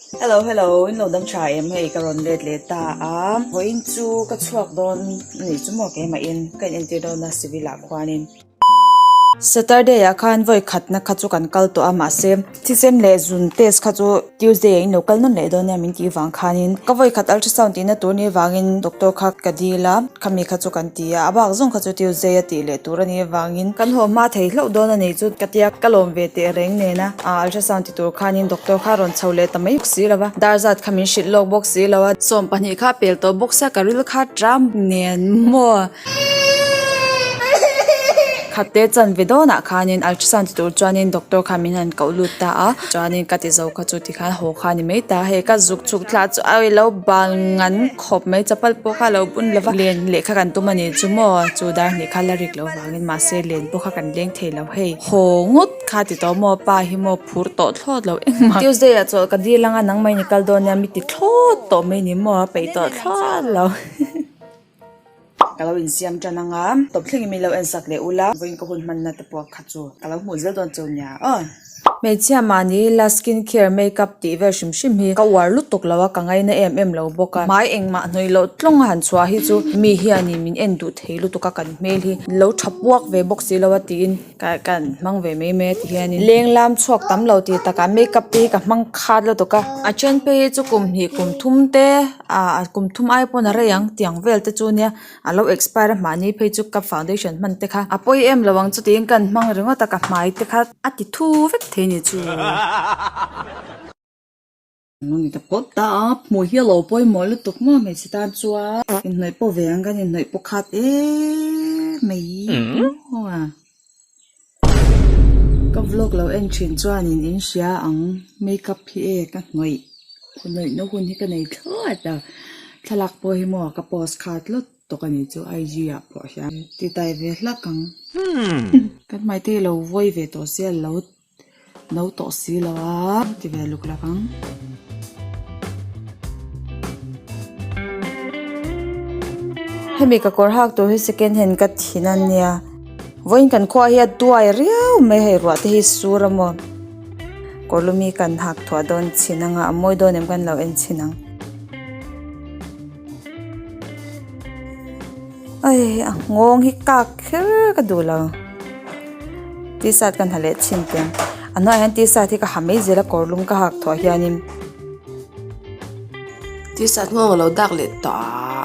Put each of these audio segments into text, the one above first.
Hello hello in lo dam tha em hei ka rawn let leh ta a haw in chu ka chhuak dawn a nih chu maw kema in ka in entir dawn a civil ah khuan in Saturday ah khan vawi khat na kha chu kan kal tawh a mah se thisen leh zun test kha chu Tuesday ah in lo kal nawn leh dawn nia min tih vang khan in ka vawi khat ultrasound tih na tur ni vang in doctor kha ka dil a. khami kha chu kan ti a a bak zawng kha chu tiu zai a tih leh tur a nih avangin kan haw hma thei hlauh dawn a nei chu ka tia ka lawm ve teh reng nen a aah ultrasound ti tur khanin doctor kha rawn chho leh ta mai si lo va dar zat kha min hrilh lawk bawk si lo a sawm pahnih kha pel tawh bawk sak a ril kha tram nen maw khat te chan ve dawn ah khanin ultrasound ti tur chuanin doctor kha min han koh lut ta a chuanin ka ti zo kha chu tikhan haw kha a ni mai ta hei ka zuk chhuk thla chu a awilo bang ang. khawp mai chapal pawh kha a lo bun lova len leh kha kan tum a ni chu maw chu dar hnih kha la rik loh vangin mahse len pawh kha kan leng thei lo hei haw ngawt kha ti tawh maw pa hi maw phur tawh thlawt lo engmah tuesday ah chawl ka dil anga nang mai ni kal dawn nia mi ti thlawt tawh mai ni maw a peih tawh thlawt lo. Ka lo insiam tan anga tawp thleng in min lo en sak leh u la vawiin ka hun hman na te pawh kha chu ka lo hmuh zel dawn chu nia aw. Hmeichhia mahni ila skin care make up tih vel hrim hrim hi ka uar lutuk lo a ka ngai na em em lo bawk a hmai engmah hnawi loh tlawng a han chhuah hi chu mi hianin min en duh thei lutuk a kan hmel hi lo tha puak ve bawk si lo a tiin. Ka kan hmang ve mai mai a ti hian in. Leng lam chhuak tam lo ti takah makeup te hi ka hmang khat la tawk a. A then phei hi chu kum hnih kum thum te ah a kum thum ai pawn a rei ang tiang vel te chu nia a lo expire a mahni phei chu ka foundation hman te kha a pawi em lo ang chuti in kan hmang ringawt a ka hmai te kha a ti thu vek thei ni chu. Nuni te pawh ta a hmui hi a lo pawimawh lutuk maw hmeichhe tan chuan. Inhnawih pawh ve ang kan inhnawih pawh khat eee mai maw a. Ka vlog lo en thin chuanin in hria ang makeup hi e ka hnawih hnawih na hun hi ka nei thlawt a thlalak pawh hi maw ka post khat lawt tawk ani chu IG ah pawh hian titaive hlak ang kan hmaite hi lo vawi ve tawh se a lo No tawh si lo a. Ka ti ve luk lak ang. Hemi ka kawr hak tur hi second hand ka thin a nia. Vawiin kan khaw ah hi a tuai riau mai hei ruah te hi sur a maw. Kawrlum hi kan hak thuah dawn chin ang a, a mawi dawn em kan lo en chin ang. Aii a nghawng hi kak kher ka duh lo tshirt ka hnaleh chhin te a hnuaiah hian tshirt hi ka ha mai zela kawrlum ka hak thuah hianin tshirt nghawng alo dak leh tawh a.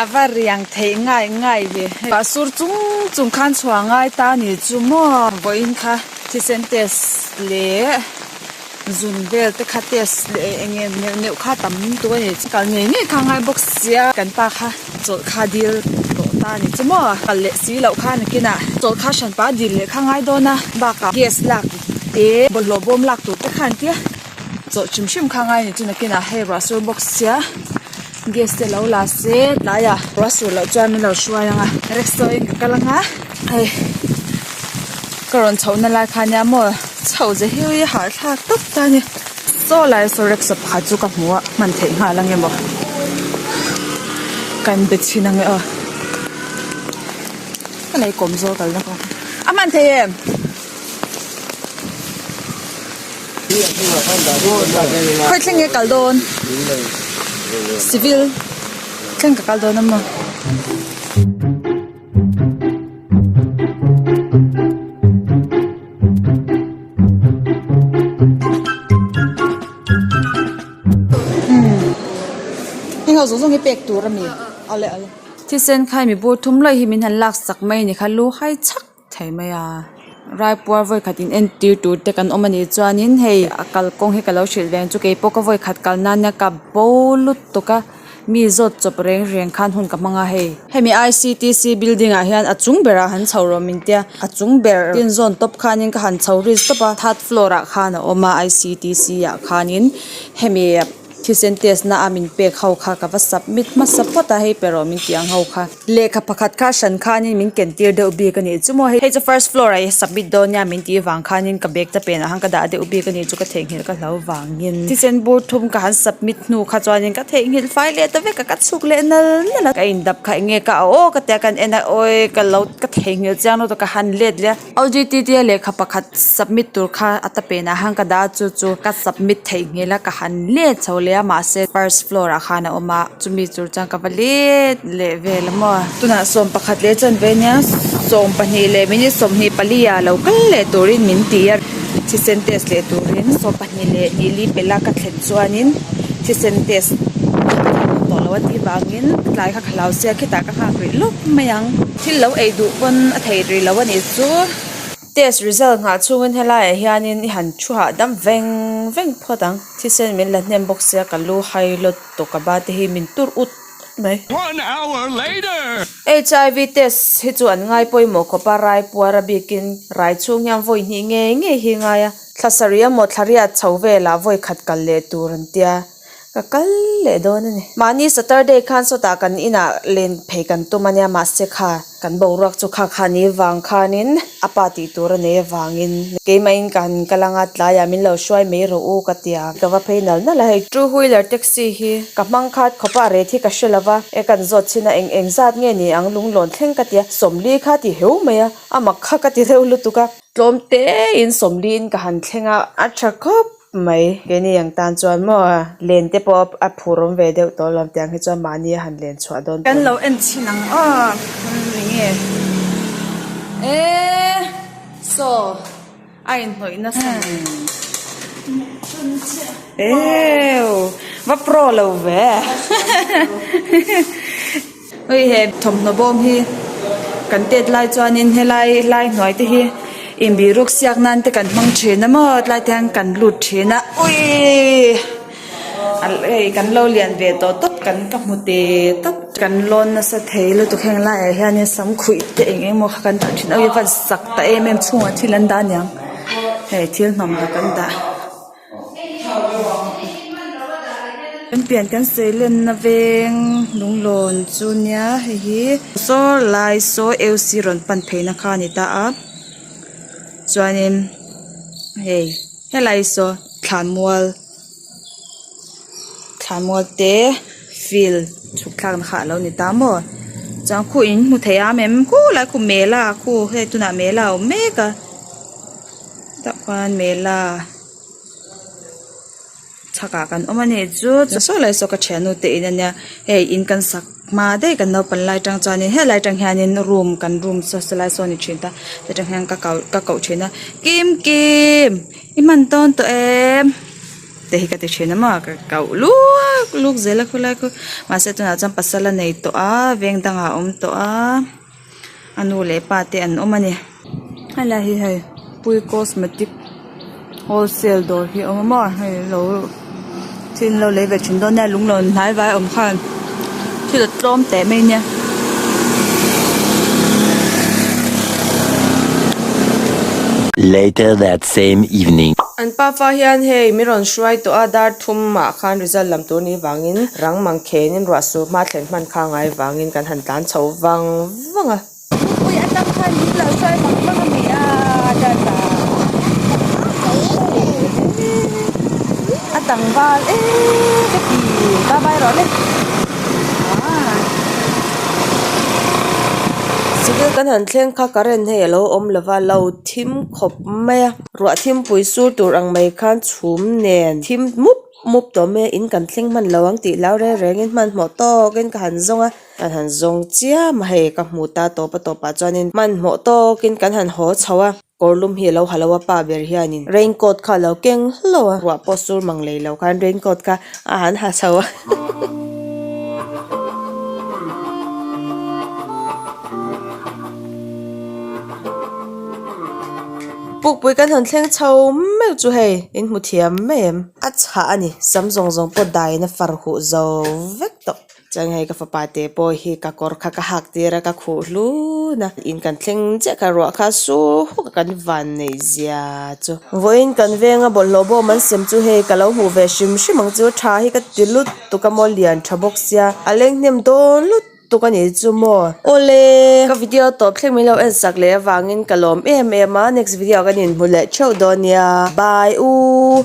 A va riang theih ngai ngai hi. Pah sur chung chung khan chhuah ngai ta ni chu maw? Vawiin kha thisen test leh zun vel te kha test leh eng nge neuh neuh kha tam tuk a ni. Kal ngei ngei kha ngai bawk sia. Kan pa kha chawlh kha dil tawh ta ni chu maw? Kal leh si loh kha nakinah chawlh kha hran pah dil leh kha ngai dawn a. Bakah gas lak te bawlhhlawh bawm lak tur te kha an tia. Chawh hrim hrim kha ngai ni chu nakin ah hei ruah sur bawk sia gas te alo la se tlai ah ruah sur loh chuan min lo hruai anga rickshaw in ka kal anga hei ka rawn chho na lai khan nia maw chho ze hiu i harthlak tawp ta nia chaw lai saw rickshaw pakhat chu ka hmu a hman theih nghal ange maw kan be chhin ange aw ka lei kawm zawk kalna kawng a hman thei em. Khawi thleng e kal dawn civil thleng ka kal dawn a maw. Engho zawng zawng hi pek tur a ni. Thisen khai mi bu thum luaih hi min han laksak mai ni kha luhai chak. thei mai a raipuar vawi khat in entir tur te kan awm a nih chuan in hei a kal kawng hi ka lo hrilh ve ang chu kei pawh ka vawi khat kal nan ina kap bo lut tawk a mi zawt chawp reng reng khan hun ka hmang a hei hemi ictc building ah hian a chung ber ah han chho rawh min tia a chung ber tin zawn tawp khan in ka han chho ris tawp a third floor ah khan a awm a ictc ah khan in hemi-- Thisen test na a min pek ho kha ka va submit hmasa phawt a, hei perho min tih ang ho kha. Lehkha pakhat kha hran khanin min ken tir deuh bik a nih chu maw hei chu first floor ah i submit dawn nia min tih vang khanin ka bag te pen ah han ka dah deuh bik a nih chu ka theihnghilh ka hlau vangin thisen bur thum ka han submit hnu kha chuanin ka theihnghilh fai leh ta vek a ka chhuk leh nal nal a ka indap kha enge ka a aw ka ti a kan en a awi ka lo ka theihnghilh chiang lo ta ka han let leh a. OGTTA lehkha pakhat submit tur kha a ta pen ah khan ka dah a chu chu ka submit theih nghel a ka han let chho leh a mahse first floor ah khan a awm a chumi tur chuan ka va let leh vel a maw tunah sawm pakhat leh chuan vei nia sawm pahnih leh minute sawmhnih pali ah lo kal leh turin min ti a thisen test leh turin sawm pahnih leh nili pela ka thlen chuanin thisen test a tih vang in tlai kha khalau sia khitah ka nghak rih lawp mai ang. Thil lo ei duh pawn a thei ri lo a nih chu. Test result nghah chungin helaiah hianin i han thu hahdam veng veng phawt ang. Thisen min la hnem bawk sia ka lu hai lawt tawh ka ba te hi min tur ut mai. One hour later. HIV test hi chu an ngai pawimawh khawpa rai puar a bikin raichhung hian vawi hnih ngei ngei hi ngai a. Thla sarih emaw thla riat chho velah vawi khat kal leh tur an tia. Ka kal leh dawn a ni. Mahni Saturday khan sawtah kan inah len phei kan tum a nia mahse kha kan boruak chu kha kha ni vang khanin a pa tih tur a nei avangin keimahin ka han kal anga tlaiah min lo hruai mai rawh u ka tia ka va phei nal nal a hei chu. Two wheeler taxi hi ka hmang khat khawp a ret hi ka hre lova e kan zawt chhin a eng eng zat nge ni ang lunglawn thleng ka tia sawmli kha ti heu mai a amak kha ka ti deuh lutuk a tlawm tein sawmliin ka han thleng a a tha khawp. mai keini ang tan chuan maw len te pawh a phur awm ve deuh tawh lo ang tiang hi chuan mahni a han len chhuah dawn tawh kan lo en chhin ang a nge e so a in hnawih nasa eww va pro lo ve. Hei he thawmhnaw bawm hi kan tet lai chuanin helai lai hnuai te hi inbih ruk siak nan te kan hmang thin a maw tlai te hian kan lut thin a uiiii kan lo lian ve tawh tawp kan ka hmu te tawp kan lawn nasa thei lutuk heng lai ah hian in sam khuih te eng eng maw kha kan dah thin a ui vat sak ta em em chhungah thil an dah niang hei thil hnawmhnaw kan dah. Kan pian kan sawi lenna veng lunglawn chu nia hei hi saw lai saw lc rawn pan theihna kha a ni ta a chuanin hei helai saw thlan mual thlan mual te fill chhuk thlakna kha a lo ni ta maw chuan khuh in hmu thei a em em khulai khu mela khu hei tunah mela a awm mek a. mela chhakah kan awm a nih chu chu sawi lai saw ka thianu te in ania hei in kan sak hma daih kan naupang lai atang chuanin helai atang hianin room kan room sawi sawi lai sawn a ni thin ta chutah hian ka kal ka koh thin a kim kim i hman tawn tawh em te hi ka ti thin a maw ka koh luak luk zel a khawlai khaw mahse tunah chuan pasal a nei tawh a veng dangah a awm tawh a. A nu leh pa te an awm a ni. He lah hi hei Pui Cosmetic wholesale dawr hi a awm a maw? Hei an lo thil an lo lei ve thin dawn nia, lung lo hnai vai awm khan thil a tlawm teh mai nia. Later that same evening. An pa fa hian hei mi rawn hruai tawh a dar. Thum ah khan result lam tur ni vang in rang mang khen in ruah sur hma thlen hman kha ngai vang in kan han tlan chho vang vang a. Thupui a tam khan min lo sual mang mang a ni a dan ta e a tlangval e ka ti bye bye rawh le aa civil kan han thleng kha current hei a lo awm lo va lo thim khawp mai a. Ruah thimpui sur tur ang mai khan chhum nen thim mup mup tawh mai a in kan thleng hman lo ang tih lau reng reng in hmanhmawh tawkin ka han zawng a kan han zawng chiam a hei ka hmu ta tawp a tawp ah chuanin hmanhmawh tawkin kan han haw chho a kawrlum hi a lo ha lo a pa ber hianin raincoat kha a lo keng hlo a ruah pawh sur mang lei lo khan raincoat kha a han ha chho a. Pukpui kan han thleng chho meuh chu hei in hmu thiam mai em. A chhah a ni sam zawng zawng pawh daina far huh zo vek tawh. Chuan hei ka fapa te pawh hi ka kawr kha ka hak tir a ka khuh hlun a. In kan thleng chiah kha ruah kha su huh ka kan van nei zia chu. Vawiin kan veng a bawlhhlawh bawm an sem chu hei ka lo hmuh ve hrim hrim ang chu tha hi ka ti lut tuk a maw lian tha bawk sia a lenghnem dawn lut. tuk a nih chu maw. Awle! Ka video tawp thleng min lo en sak leh avangin ka lawm em em a, next video ah kan inhmu leh theuh dawn nia, bye u.